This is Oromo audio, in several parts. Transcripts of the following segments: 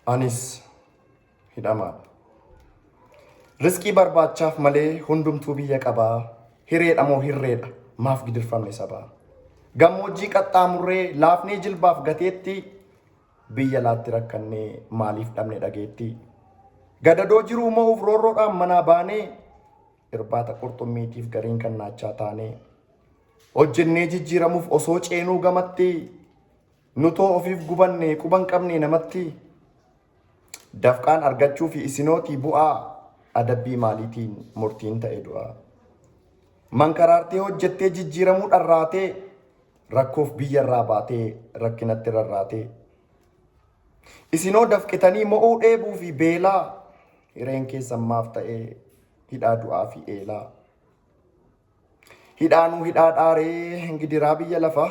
Anis hidhamaadha. Risqii barbaachaaf malee hundumtuu biyya qabaa. Hireedha moo hirreedha maaf gidirfamne sabaa. Gammoojjii qaxxaamurree laafnee jilbaaf gateetti biyya laatti rakkannee maaliif dhabne dhageetti. Gadadoo jiruu mo'uuf roorroodhaan manaa baanee irbaata qurxummiitiif gariin kan naachaa taanee. Hojjennee jijjiiramuuf osoo ceenuu gamatti Nutoo ofiif gubanne quba hin qabne namatti dafqaan argachuu fi isinootii bu'aa adabbii maaliitiin murtiin ta'e du'a. Mankaraartee hojjettee jijjiiramuu dharraatee rakkoof biyya irraa baatee rakkinatti rarraatee. Isinoo dafqitanii mo'uu dheebuu fi beelaa hireen keessan maaf ta'ee hidhaa du'aa fi eelaa. Hidhaanuu hidhaa dhaaree gidiraa biyya lafaa.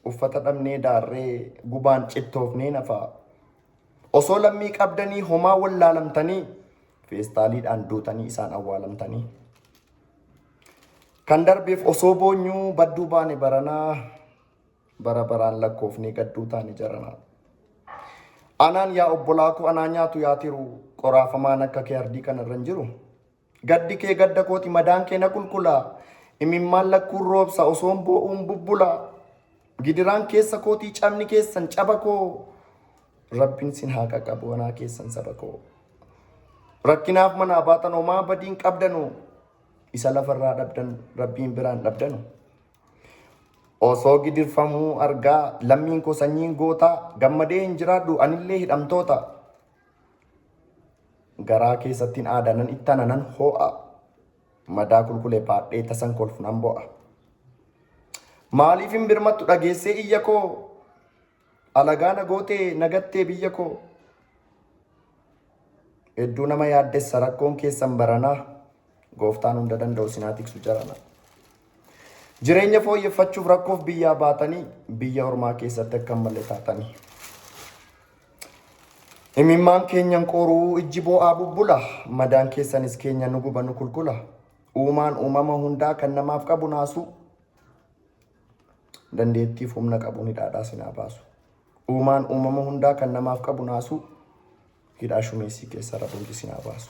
Uffata dhabnee daarree gubaan cittoofnee nafa. Osoo lammii qabdanii homaa wallaalamtanii feestaaliidhaan duutanii isaan awwaalamtanii. Kan darbeef osoo boonyuu badduu baane baranaa bara baraan lakkoofnee gadduu taane jaranaa. Anaan yaa obbolaa koo anaa nyaatu yaa tiru qoraafamaan akka kee ardii kanarra hin jiru. Gaddi kee gadda kooti madaan kee na kulkula Imimmaan lakkuun roobsa osoon boo'uun bubbula Gidiraan keessa kootii cabni keessan caba koo Rabbin sin haa qaqabu wanaa keessan saba koo Rakkinaaf manaa baatan homaa badiin qabdanu Isa lafarraa dhabdan rabbiin biraan dhabdanu Osoo gidirfamuu argaa lammiin koo sanyiin gootaa Gammadee hin jiraadhu anillee hidhamtoota Garaa keessattiin aadaa nan ittana nan hoo'a. Madaa kulkulee baadhee tasan kolfu nan bo'a. Maaliif hin birmattu dhageessee iyya koo? Alagaa na gootee na gattee biyya koo. Hedduu nama yaaddessa rakkoon keessan baranaa. Gooftaan hunda danda'u sinaa tiksu jarana. Jireenya fooyyeffachuuf rakkoof biyyaa baatanii biyya ormaa keessatti akka malee taatanii. Imimmaan keenyan qoruu ijji boo'aa bubbula. Madaan keessanis keenya nu guba nu kulkula. Uumaan uumama hundaa kan namaaf qabu naasuu. Dandeettiif humna qabuun hidhaadhaa sinaa baasu. Uumaan uumama hundaa kan namaaf qabu naasuu. Hidhaa shumeessii keessa rabumti sinaa baasu.